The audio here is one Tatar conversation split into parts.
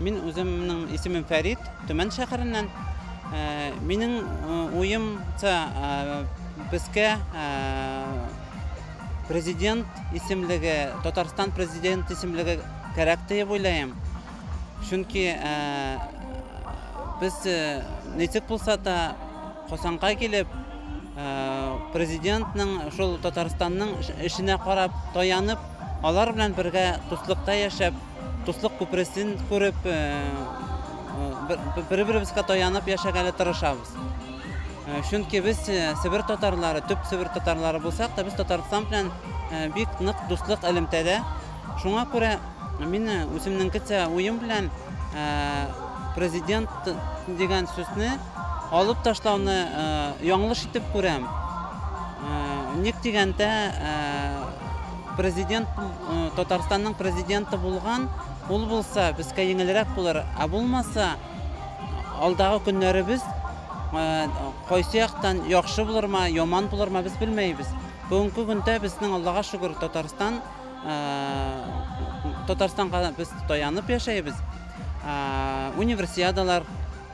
Мин үземнең исемем Фәрит, Төмән шәһәреннән. Э, минем э, уемча э, безгә президент исемлеге, Татарстан президент исемлеге кәрәк диеп уйлыйм. Чөнки без ничек булса да Хосанга килеп, президентның шул Татарстанның эшенә карап, таянып, алар белән бергә дуслыкта яшәп, Дуслык күпересен күреп, бер-беребезгә таянып яшәгәле тырышабыз. Чөнки без Себер татарлары, төп Себер татарлары булсак та, без Татарстан белән бик нык дуслык элемтәдә. Шуңа күрә мин үземнеңкечә уем белән президент дигән сүзне алып ташлауны яңлыш итеп күрәм. Ник дигәндә, Президент, Татарстанның президенты булган, ул булса, безгә еңелрәк булыр. Ә булмаса, алдагы көннәребез кайсы яктан яхшы булырмы, яман булырмы, без белмәйбез. Бүгенге көндә безнең Аллага шөкер, Татарстан Татарстанга без таянып яшәйбез. Универсиадалар,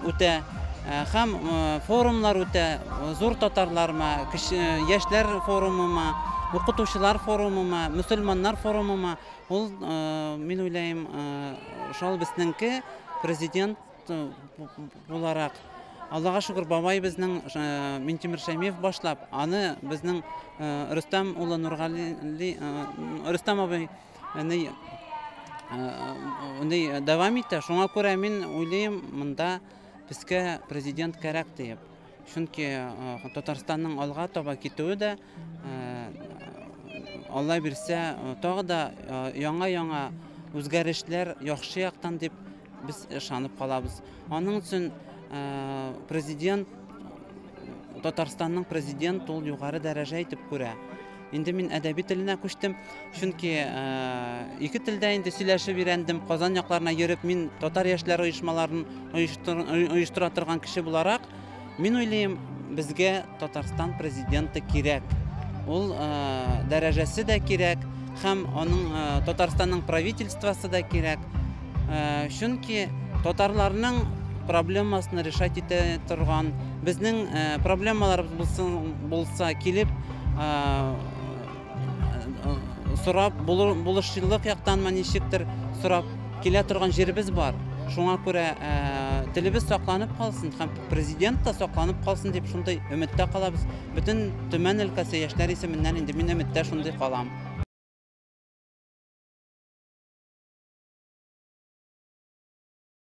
үтә һәм форумнар үтә, зур татарларма, яшьләр форумыма, укытучылар форумыма, мөселманнар форумыма, ул, мин уйлыйм, шул безнеңке президент буларак, Аллага шөкер, бабай безнең Минтимер Шәймиев башлап, аны безнең Рөстәм улы Нургали, Рөстәм абый Әни уни дәвам итә. Шуңа күрә мин уйлыйм, монда безгә президент кәрәк диеп. Чөнки Татарстанның алга таба китүе дә Алла бирсә, тагы да яңа-яңа үзгәрешләр яхшы яктан дип Без ышанып калабыз. Аның өчен президент Татарстанның президент ул югары дәрәҗә итеп күрә. Инде мин әдәби теленә күчтем, чөнки ике телдә инде сөйләшеп өйрәндем. Казан якларына йөреп, мин татар яшьләре оешмаларын оештыра торган кеше буларак, Мин уйлыйм, безгә Татарстан президенты кирәк. Ул э, дәрәҗәсе дә кирәк, һәм аның э, Татарстанның правительствосы да кирәк. Э, чөнки татарларның проблемасын решать итә торган, безнең э, проблемаларыбыз булсын, булса килеп, э, сорап булышчылык яктанмы ничектер сорап килә торган җиребез бар шуңа күрә ә, телебез сакланып калсын һәм президент та сакланып калсын дип шундый өметтә калабыз бөтен төмән өлкәсе яшьләр исеменнән инде мин өметтә шундый калам